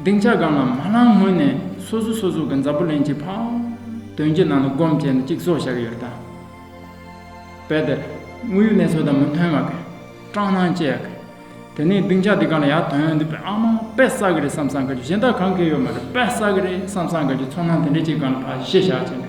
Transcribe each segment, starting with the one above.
སྡིངས་ཆ་སྒང་ལ་མ་ལངས་སྔོན་ནས་སོ་སོ་སོ་སོ་གི་འཛམ་བུ་གླིང་གི་ཕ་དོན་གྱི་ནང་དུ་སྒོམ་བྱས་ནས་ཅིག་བཟོ་བཞག་ཡོད་རེད་ད། དཔེ་དེར་དངོས་ཡོད་གནས་ཚུལ་དང་མི་མཐུན་བ་གི་སྐྲག་སྣང་སྐྱེ་ཡག་གི། དེ་ནས་སྡིངས་ཆ་འདི་གང་ལ་ཡག་དོན་འདི་དཔེ་ཨ་མ་དཔེ་ས་གི་རེད་བསམ་བསམ་དགའ་རྒྱུ་གཞན་དག་གང་གི་ཡོད་མ་རེད་དཔེ་ས་གི་རེད་བསམ་བསམ་དགའ་རྒྱུ་ཚོར་སྣང་དེ་འདྲས་ཅིག་གང་ལ་བ་ཤེས་བཞག་བྱས་ནས།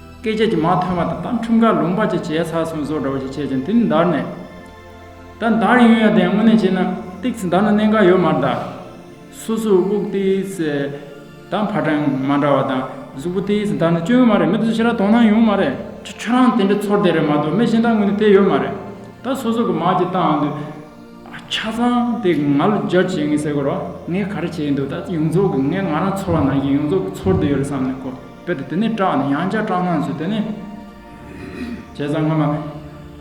སྐད་ཆ་གྱི་མ་ཐོན་བ་དང་ད་ཁྲིམས་ཁ་ལུང་པ་ཅིག་བྱས་ཚར་སོང་ཟོ་འདྲ་བོ་ཅིག་བྱས་ཀྱང་དེ་ནི་འདར་ནས་ད་འདར་ཡོང་ཡང་དེ་དངོས་གནས་བྱས་ན་སྟེགས་ཚེ་འདར་ན་གནད་འགག་ཡོད་མ་གདའ། སོ་སོའི་དབུགས་སྟེགས་དང་ཕ་གྲངས་མ་འདྲ་བ་དང་གཟུགས་པོ་སྟེགས་འདར་ན་སྐྱོན་ཡོད་མ་རེད་མི་དེ་ཚོ་ཕྱི་ར་དོང་སྣང་ཡོང་མ་རེད། ཁྱོད་རང་དེ་འདྲའི་ཚོར་དེ་རེད་མ་གཏོགས་མི་གཞན་དག་དངོས་གནས་དེ་ཡོད་མ་རེད། ད་སོ་སོ་གི་མར་གྱི་སྟངས་འདི་ཆ་ཚང་དེ་ང་ལ་སྦྱར་བྱས་ངེས་གསལ་གོ་རོ། ངས་ག་རེ་བྱས་འདུག་ད་ཡོངས་རྫོགས་ཀྱི་ངས་ང་རང་ཚོར་བ་ནང་བཞིན་ཡོངས་རྫོགས་ཀྱི་ཚོར་དེ་ཡོད་རེད་བསམ་ནས་གོ། དཔེར་དེ་ནས་སྐྲག་ནས་ཡང་བསྐྱར་སྐྲག་སྣང་བཟོས་དེ་ནས། བྱས་ཙང་སྔ་མ།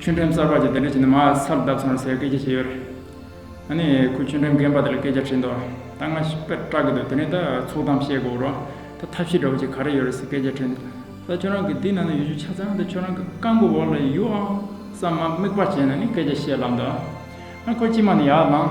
ཆུ་འགྲེམས་གསར་པ་ཅིག་དེ་འདྲ་བྱས་ནས་མ་ཚར་བརྡབས་སོང་རེད་ཟེར་སྐད་ཆ་བཤད་ཡོད་རེད། ཨ་ནི་ཁོས་ཆུ་འགྲེམས་རྒན་པ་དེ་ལ་སྐད་ཆ་དྲིས་འདུག་ད་སྔ་དཔེར་སྐྲག་གི་འདུག་དེ་ནས་ད་ཚུགས་གཏམ་བཤད་དགོས་རོགས་ད་ཐབས་ཤེས་འདྲ་བོ་ཅིག་ག་རེ་ཡོད་རེད་ཟེར་སྐད་ཆ་དྲིས་འདུག་ད་ཁྱོད་རང་གི་འདི་ནང་ན་ཡོད་ཆུ་ཆ་ཚང་འདི་ཁྱོད་རང་གི་རྐང་གི་འོག་ལ་ཡོད་ཨང་བསམ་མ་དམིགས་པ་བྱས་ནས་ནི་སྐད་ཆ་བཤད་ལབ་འདུག་ཨ་ཁོ་ཅི་མ་ནི་ཡར་ལངས།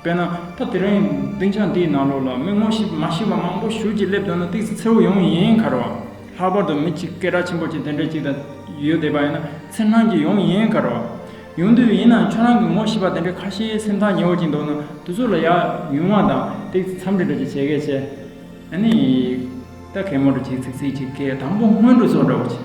དཔེར་ན་ད་དེ་རིང་སྡིངས་ཆ་འདིའི་ནང་ལོགས་ལ་མི་ངོ་ཤེས་མ་ཤེས་པ་མང་པོ་བཞུགས་ཀྱིས་སླེབས་འདུག་ན་སྟེགས་བརྩེགས་མཚེའུ་ཡོངས་ཡིན་ཁར་བ། ལྷག་པར་དུ་མི་གཅིག་སྐད་གྲགས་ཆེན་པོ་ཆེ་དེ་འདྲ་ཅིག་དང་ཡོད་བསྡད་པ་ཡིན་ན་འཚེར་སྣང་གིས་ཡོངས་ཡིན་ཁར་བ། ཡོང་དུས་ཡིན་ནའང་ཁྱོད་རང་གི་ངོ་ཤེས་པ་དེ་འདྲའི་ཁ་ཤས་སེམས་ཐག་ཉེ་བོ་ཅིག་འདུག་ན་དུས་ཚོད་ལ་ཡག་ཉུང་བ་དང་སྟེགས་བརྩེགས་མཚམས་འདྲི་འདྲ་ཅིག་བྱས་སྐད་ཆ། ཨ་ནི། ད་གད་མོ་འདྲ་ཅིག་ཚིག་ཚིག་ཅིག་སྐད་དང་པོ་སྔོན་འགྲོ་ཚོགས་འདྲ་བོ་ཅིག།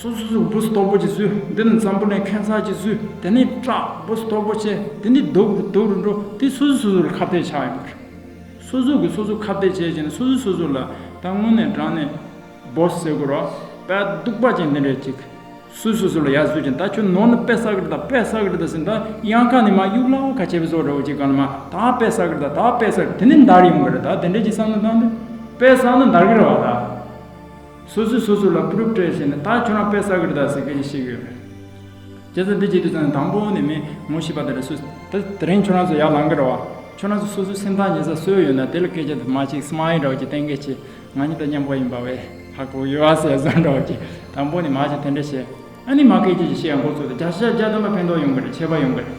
སོ་སོ་སོའི་སྦུ་སྟོབས་པོ་ཆེ་བསུ། འདི་ནི་འཛམ་བུ་ནས་ཁན་ཚ་ཆེ་བསུ། དེ་ནི་སྐྲ་སྦུ་སྟོབས་པོ་ཆེ། དེ་ནི་དུག་སྦུ་སྟོབས་རུ་འགྲོ། དེ་སོ་སོས་སོ་སོར་ཁ་བརྡས་ཆགས་ཡོད་པ་རེད། སོ་སོ་གིས་སོ་སོ་ཁ་བརྡས་བྱས་ཀྱིན་ན་སོ་སོས་སོ་སོ་ལ་ད་དངོས་གནས་བགྲང་ནས་སྦོ་ཟེར་དགོས་རོགས། དཔལ་སྡུག་པ་ཅན་འདི་འདྲས་ཅིག། སོས་སོ་སོ་ལ་ཡ་བཟོས་ཀྱིན་ད་ཁྱོད་ནོར་ནི་དཔལ་ས་ཀིར་ད་དཔལ་ས་ཀིར་ད་ཟེར་ད་གཡང་ཁ་ནི་མ་གཡུག་ལ་ཁ་བྱེད་པའི་བཟོ་འདྲ་བོ་ཅིག་ག་ནི་མ་ད་དཔལ་ས་ཀིར་ད་ད་དཔལ་ས་ཀིར་དེ་ནི་འདར་ཡོང་གི་རེད་ད་དེ་འདྲས་ཀྱིས་བསམ་ན་ད་འདི་དཔལ་ས་ནི་འདར་གི་རེད་བ་ད། སོ་སོས་སོ་སོ་ལ་ཕུ་རུབ་སྤྲད་བྱས་ནས་ད་ཁྱོད་རང་དཔེ་ཟ་གི་རེད་ད་ཟེར་མཁན་ཞིག་ཤེས་གི་ཡོད་རེད། རྒྱལ་ས་འདི་བརྗེད་དུས་ཚར་ནས་དང་པོ་ནས་མིན་ངོ་ཤེས་པ་དེ་རེད་སུས་ད་དེ་རིང་ཁྱོད་རང་ཚོ་ཡར་ལང་གི་རེད་བ། ཁྱོད་རང་ཚོ་སོ་སོའི་སེམས་ཐག་ཉེ་ས་སོས་ཡོད་ན་དེ་ལ་སྐད་ཆ་དུ་མ་གཅིག་སྨྲ་ཡི་འདྲ་བ་གཅིག་བསྟན་གལ་ཆེ་ང་གཉིས་ད་མཉམ་པོ་ཡིན་པ་བས་ཧ་གོ་གི་ཡོད་ཨ་ཟེར་ཟེར་འདྲ་བ་གཅིག་དང་པོ་ནས་མ་གཅིག་དེ་འདྲ་བྱས་ཨ་ནི་མ་སྐད་ཆ་གཅིག་བཤད་ཡང་འགོ་བཙུགས་ཏེ་བརྒྱ་ཆ་བརྒྱ་བརྒྱ་བསྡམས་པ་ཕན་ཐོག་ཡོང་གི་རེད་ཆད་པ་ཡོང་གི་རེད།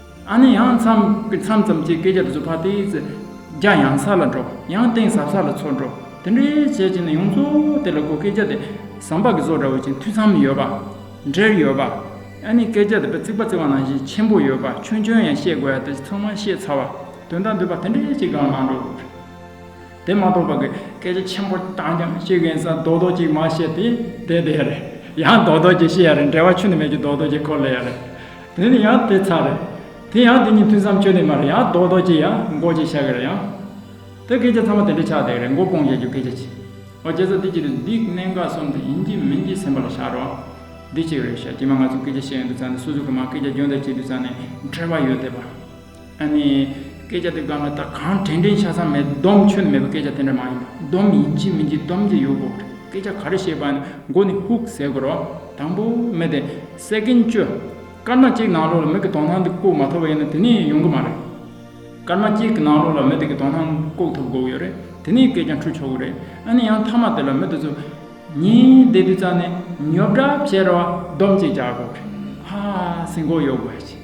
ཨ་ནི་ཡང་མཚམས་ཀྱི་མཚམས་ཙམ་གྱི་སྐད་ཆ་བཟོད་པ་དེས་ཚེ་རྒྱ་ཡང་ས་ལ་འགྲོ་ཡང་སྟེང་ཟབ་ས་ལ་ཚུར་འགྲོ་དེ་འདྲའི་བྱས་རྗེས་ནི་ཡོངས་རྫོགས་དེ་ལ་གོ་སྐད་ཆ་དེ་ཟམ་པ་གི་བཟོ་འདྲ་བོ་ཅན་འཐུས་ཚམ་ཡོད་པ། འབྲེལ་ཡོད་པ། ཨ་ནི་སྐད་ཆ་དེ་བརྩིགས་པ་བརྩིགས་པ་ནང་བཞིན་ཆེན་པོ་ཡོད་པ་ཆུང་ཆུང་ཡང་ཤེས་དགོས་ཡ་དེ་ཚང་མ་ཤེས་ཚར་བ་དོན་དག་འདུས་པ་དེ་འདྲའི་ཅིག་ཀྱང་མ་འགྲོ། དེ་མ་གཏོགས་པ་གི་སྐད་ཆ་ཆེན་པོ་རྐྱང་རྐྱང་བཤད་མཁན་ས་རྡོག་རྡོག་ཅིག་མ་བཤད་དེ་དེ་དེ་རེད་ཡང་རྡོག་རྡོག་ཅིག་བཤད་ཡ་རེད་འབྲེལ་བ་ཆུ་ནི་མེད་ཀྱི་རྡོག་རྡོག་ཅིག་གོ་ལེ་ཡ་རེད་དེ་ནི་ཡང་དེ་ཚར་རེད་དེ་ཡང་དེ་གཉིས་མཐུན་སའམ་ཆོས་ནི་མ་རེད་ཡང་རྡོག་རྡོག་ཅིག་ཡང་མགོ་ཅིག་ཤ་གི་རེད་ཡང་དེ་སྐད་ཆ་ཚང་མ་དེ་འདྲ་ཆགས་དེ་རེད་མགོ་སྤོང་བྱ་རྒྱུ་སྐད་ཆ་ཆེ་ཨོ་རྒྱལ་ཚ་འདི་གཅིག་རེད་འདི་གནད་འགག་གསུམ་དེ་ཡིན་གྱི་མིན་གྱི་སེམས་པ་ལ་བཞག་རོགས་འདི་གཅིག་རེད་ཤ་སྐྱི་མ་ང་ཚོ་སྐད་ཆ་བཤད་ཡོང་དུས་ཚང་ནས་སོ་སོ་གི་མ་སྐད་ཆ་སྦྱོང་བརྡར་བྱེད་དུས་ཚང་ནས་འཕྲད་པ་ཡོད་དེ་པ། ཨ་ནི། སྐད་ཆ་དེ་གང་ལ་ད་གང་དྲན་དྲན་ཆ་ཚང་མེད་སྡོམ་ཆོད་མེད་པའི་སྐད་ཆ་དེ་འདྲ་མ་ཡིན་པ་སྡོམ་ཡིན་གྱི་མིན་གྱི་སྡོམ་གྱི་ཡོད་དགོས་པ་རེད་སྐད་ཆ་ག་རེ་བཤད་པ་ནི་མགོ་ནས་ཧུག་ཟེར་དགོས་རོགས་དང་པོ་མེད་དེ Second ཅོ། སྐར་མ་གཅིག་ནང་ལོགས་ལ་མིག་གི་དོག་སྣང་དེ་བཀུག་མ་ཐུབ་པ་ཡིན་ན་དེ་ནས་ཡོང་གི་མ་རེད། སྐར་མ་གཅིག་གི་ནང་ལོགས་ལ་མི་དེ་གི་དོག་སྣང་བཀུག་ཐུབ་དགོས་ཀྱི་ཡོད་རེད་དེ་ནས་སྐད་ཆ་འཁྲུལ་ཆོག་གི་རེད་ཨ་ནི་ཡང་མཐའ་མ་དེ་ལ་མི་དེ་ཚོ་ཉིན་བསྡད་དུས་ཙམ་ནས་ཉོབ་འདྲ་བྱས་རོགས་སྡོམ་གཅིག་བྱ་དགོས་རེད་ཧཧཧ་སེམས་ཁོག་གཡོག་དགོས་ཀྱི།